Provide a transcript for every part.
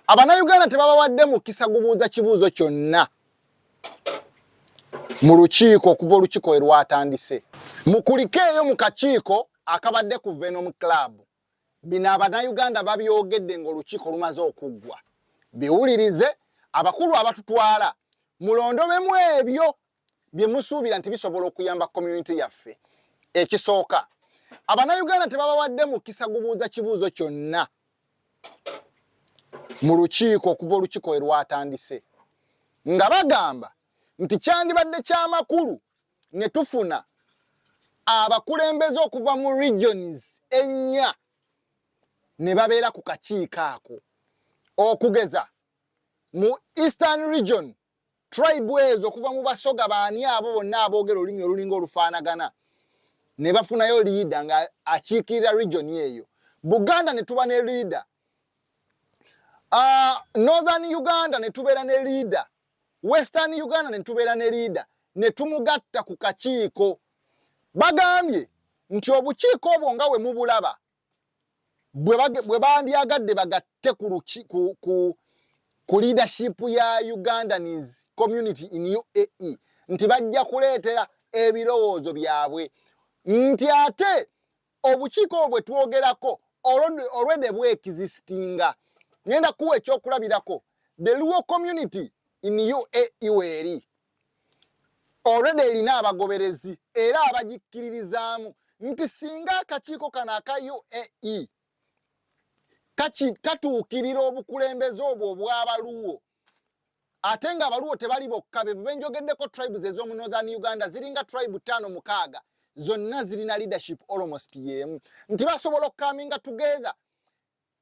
Abanayuganda tebabawadde mukisa gubuuza kibuuzo kyonna mu lukiiko okuva olukiiko we lwatandise. Mukulikeeyo mu kakiiko akabadde ku Venom Club. Bino abanayuganda babyogedde ng'olukiiko lumaze okuggwa. Biwulirize abakulu abatutwala mulondobemu ebyo bye musuubira nti bisobola okuyamba community yaffe. Ekisooka, Abanayuganda tebabawadde mukisa gubuuza kibuuzo kyonna mu lukiiko okuva olukiiko we lwatandise nga bagamba nti kyandibadde kyamakulu ne tufuna abakulembeze okuva mu regions ennya ne babeera ku kakiiko ako okugeza mu eastern region Tribe ezo okuva mu Basoga baani abo bonna aboogera olulimi olulinga olufaanagana ne bafunayo liida nga akiikirira region eyo Buganda ne tuba ne liida uh, ah, Northern Uganda ne tubeera ne liida Western Uganda ne tubeera ne liida ne tumugatta ku kakiiko bagambye nti obukiiko obwo nga we mubulaba bwe bandyagadde bagatte ku leadership ya ugandanis community in uae nti bajja kuleetera ebirowoozo byabwe nti ate obukiiko obwo bwe twogerako olwede bwekizisitinga ngenda kuwa ekyokulabirako the luo community in uae weeri already erina abagoberezi era abagikkiririzaamu nti singa akakiiko kano aka uae katuukirira obukulembeze obwo obw'abaluwo ate nga abaluwo tebali bokka be benjogeddeko tribes ez'omu northern uganda ziringa tribe tano mukaaga zonna zirina leadership almost yeemu nti basobola okukaminga together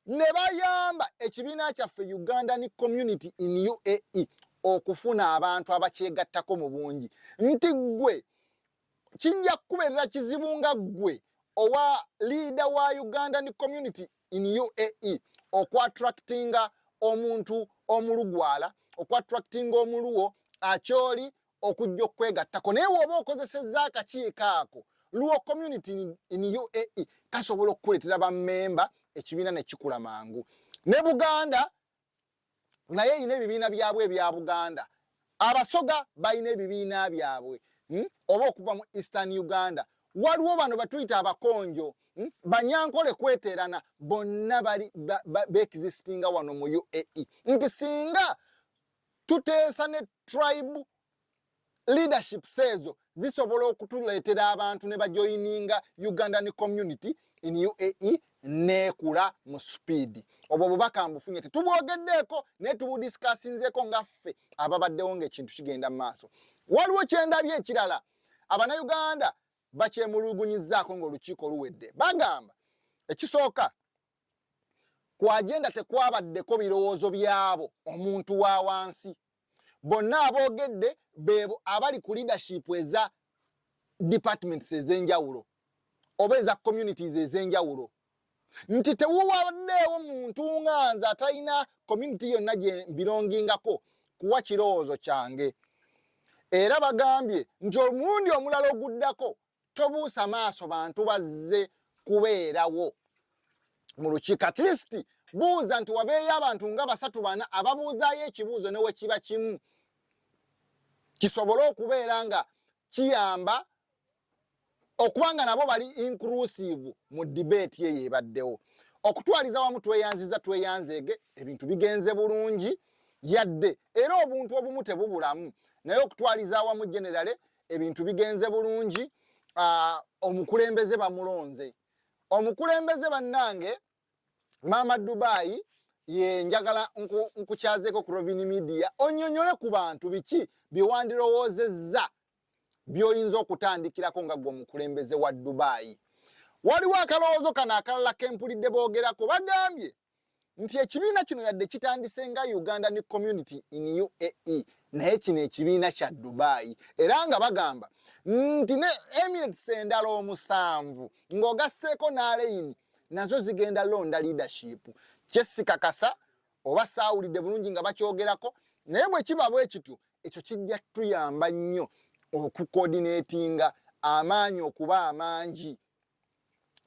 ne bayamba ekibiina kyaffe Ugandan Community in UAE okufuna abantu abakyegattako mu bungi nti ggwe kijja kukubeerera kizibu nga ggwe owa liida wa Ugandan Community in UAE okwattractinga omuntu omulugwala okwattractinga omuluwo akyoli okujja okwegattako naye woba okozesezza akakiiko ako luo community in uae kasobola okukuleetera bamemba ekibiina nekikula mangu ne buganda naye erina ebibiina byabwe ebya buganda abasoga balina ebibiina byabwe hmm? oba okuva mu eastern uganda waliwo bano batuyita abakonjo hmm? banyankole kweterana bonna bali beexistinga wano mu uae nti singa Tuteesa ne tribe leadership seezo zisobola okutuleetera abantu ne bajoyininga Ugandan community in UAE neekula mu supiidi. Obwo bubaka mbufunye tetubwogeddeeko naye tubudisikasinzeeko nga ffe ababaddewo ng'ekintu kigenda mu maaso. Waliwo kyendabye ekirala abanayuganda bakyemulugunyizaako ng'olukiiko luwedde. Bagamba ekisooka ku agenda tekwabaddeko birowoozo byabo omuntu wa wansi bonna aboogedde beebo abali ku leadership eza departments ez'enjawulo oba eza communities ez'enjawulo nti tewuwaddeewo muntu nga nze atalina community yonna gye mbirongingako kuwa kirowoozo kyange era bagambye nti omulundi omulala oguddako tobuusa maaso bantu bazze kubeerawo mu lukiiko at least buuza nti wabeeyo abantu nga basatu bana ababuuzaayo ekibuuzo ne wekiba kimu kisobole okubeera nga kiyamba okuba nga nabo bali inclusive mu dibeeti eyo ebaddewo okutwaliza wamu tweyanziza tweyanzeege ebintu bigenze bulungi yadde era obuntu obumu tebubulamu naye okutwaliza awamu generale ebintu bigenze bulungi omukulembeze bamulonze omukulembeze bannange maama dubayi ye njagala nkukyazeko ku rovini media onyonyole ku bantu biki byewandirowoozezza byoyinza okutandikirako nga gwe omukulembeze wa dubayi waliwo akalowoozo kano akalala kempulidde boogerako bagambye nti ekibiina kino yadde kitandise nga ugandan community in uae naye kino ekibiina kya dubai era nga bagamba nti ne emirates endala omusanvu ng'ogasseeko n'aleyini nazo zigenda londa leadership kyesikakasa oba saawulidde bulungi nga bakyogerako naye bwe kiba bwe kityo ekyo kijja tuyamba nnyo okukoodineetinga amaanyi okuba amangi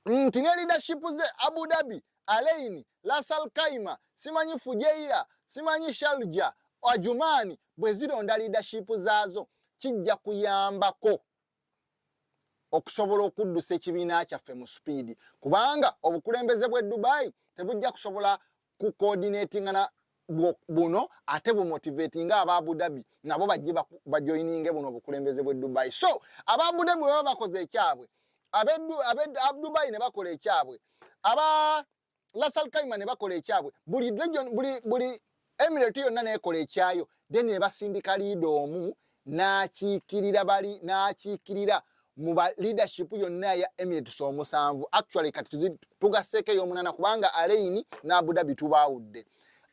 nti ne leadership ze Abu Dhabi, Alain, Ras Al Khaimah, simanyi Fujairah, simanyi Sharjah, Ajman bwe zironda leadership zaazo kijja kuyambako okusobola okuddusa ekibiina kyaffe mu supiidi kubanga obukulembeze bw'e Dubai tebujja kusobola ku coordinatinga na buno ate bu motivate nga aba Abu Dhabi nabo bajje ba joininge buno bukulembeze bwe Dubai so aba Abu Dhabi baba bakoze ekyabwe abe abe Dubai ne bakola ekyabwe aba Lasal Kaima ne bakola ekyabwe buli region buli buli emirate yonna nekola ekyayo then ne basindika liido omu n'akiikirira bali n'akiikirira mu ba leadership yonna ya Emirates omusanvu actually kati tugasseeko ey'omunaana kubanga Alain ne Abu Dhabi tubaawudde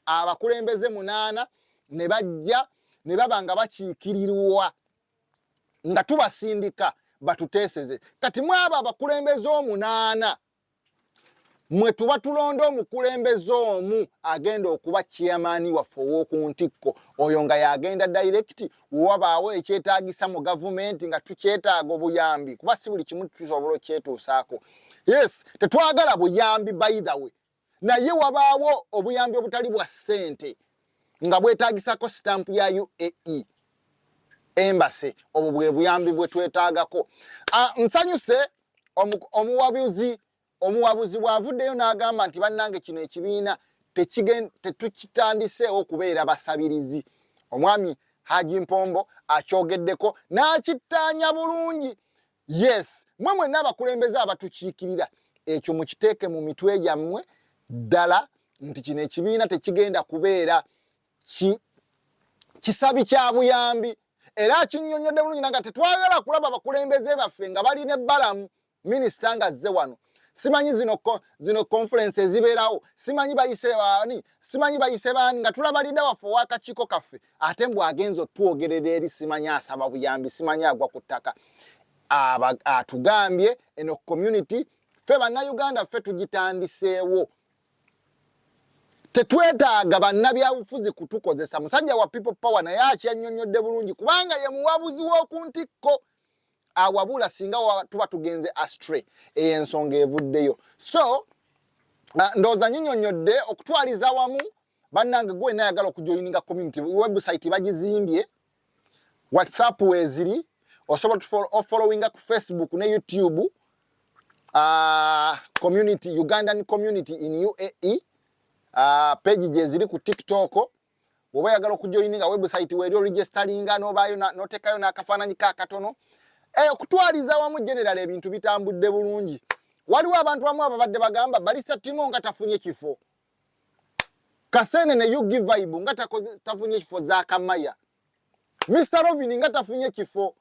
abakulembeze munaana ne bajja ne baba nga bakiikirirwa nga tubasindika batuteeseze kati mwabo abakulembeze omunaana mwe tuba tulonda omukulembeze omu agenda okuba chairman waffe ow'oku ntikko oyo nga y'agenda direct wewabaawo ekyetaagisa mu gavumenti nga tukyetaaga obuyambi kuba si buli kimu tusobola okyetuusaako yes tetwagala buyambi by the way naye wabaawo obuyambi obutali bwa ssente nga bwetaagisako stamp ya uae embase obwo bwe buyambi bwe twetaagako ah, nsanyuse omuwabuzi omuwabuzi bw'avuddeyo n'agamba nti bannange kino ekibiina tetukitandiseewo kubeera basabirizi omwami haji mpombo akyogeddeko n'akittaanya bulungi yes mwe mwenna abakulembeze abatukiikirira ekyo mukiteeke mu mitwe gyammwe ddala nti kino ekibiina tekigenda kubeera kisabi kya buyambi era akinyonyodde bulungi nanga tetwagala kulaba abakulembeze baffe nga bali ne balamu minisita nga azze wano simanyi zino zino conference ezibeerawo simanyi bayise baani simanyi bayise baani nga tulaba lida waffe owakakiiko kaffe ate mbw agenza otwogerera eri simanyi asaba buyambi simanyi agwa ku ttaka atugambye eno community ffe bannayuganda ffe tugitandiseewo tetwetaaga bannabyabufuzi kutukozesa musajja wa people power naye akyannyonnyodde bulungi kubanga ye muwabuzi w'oku ntikko awabula singa tuba tugenze astray eyo ensonga evuddeyo so ndowooza nyinyonnyodde okutwaliza wamu bannange gwe nayagala okujoyininga community website bagizimbye whatsapp weziri osobola ofollowinga ku facebook ne youtube uh, community ugandan community in uae uh, ah, page gyeziri ku tiktok oba oyagala okujoininga website weri oregisteringa nobayo notekayo nakafananyi ka katono e, eh, okutwaliza wamu general ebintu bitambudde bulungi waliwo abantu wamu ababadde bagamba balisa timo nga tafunye kifo kasene ne ug vibe nga tafunye kifo za kamaya mr rovin nga tafunye kifo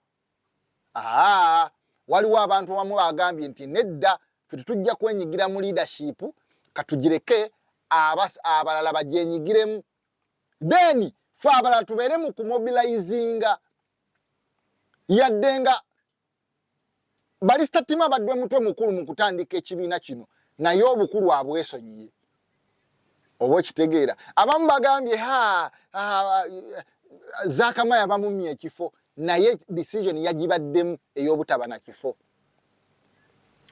aa waliwo abantu abamu bagambye nti nedda fe tetujja kwenyigira mu leadership katugireke abalala bagyenyigiremu then fe abalala tubeere mu kumobilizinga yadde nga Balista Tima abadde mutwe mukulu mu kutandika ekibiina kino naye obukulu abwesonyiye oba okitegeera abamu bagambye ha zakama yabamumya ekifo naye decision yagibaddemu ey'obutaba na kifo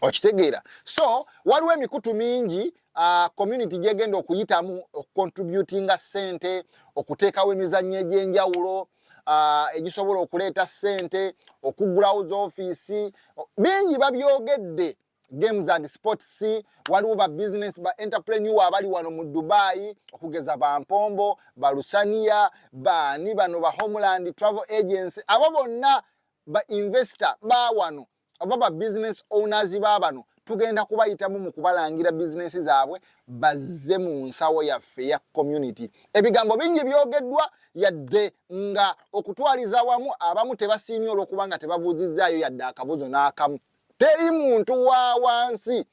okitegeera so waliwo emikutu mingi uh, community gyegenda okuyitamu okucontributinga sente okuteekawo emizannyo egy'enjawulo uh, egisobola okuleeta sente okuggulawo zoofiisi bingi babyogedde games and sports waliwo ba business ba entrepreneur abali wano mu dubai okugeza ba mpombo ba lusania baani bano ba homeland travel agency abo bonna ba investor ba wano oba ba business owners baabano tugenda kubayitamu mu kubalangira bizinensi zaabwe bazze mu nsawo yaffe ya community ebigambo bingi byogeddwa yadde nga okutwaliza wamu abamu tebasiimye olwokuba nga tebabuuzizzaayo yadde akabuzo n'akamu teri muntu wa wansi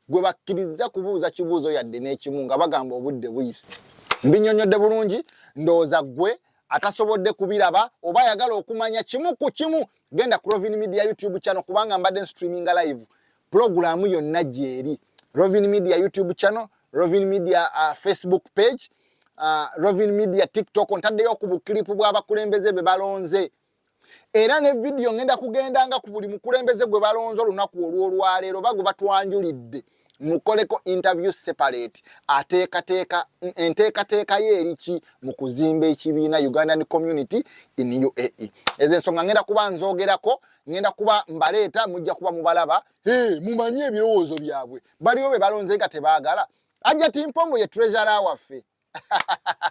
gwe bakkiriza kubuuza kibuuzo yadde n'ekimu nga bagamba obudde buyise mbinyonyodde bulungi ndowooza ggwe atasobodde kubiraba oba ayagala okumanya kimu ku kimu genda ku Rovin Media YouTube channel kubanga mbadde streaming live program yonna gyeri Rovin Media YouTube channel, Rovin Media uh, Facebook page, uh, Rovin Media TikTok ntaddeyo ku buklipu bw'abakulembeze be balonze era ne vidiyo ngenda kugendanga ku buli mukulembeze gwe balonze olunaku olw'olwaleero bagwe batwanjulidde mukoleko interview separate ateekateeka enteekateeka ye eriki mu kuzimba ekibiina ugandan community in uae ezo ensonga ngenda kuba nzogerako ngenda kuba mbaleeta mujja kuba mubalaba hey, mumanye ebirowoozo byabwe baliwo be balonze nga tebaagala ajati mpongo ye treasure waffe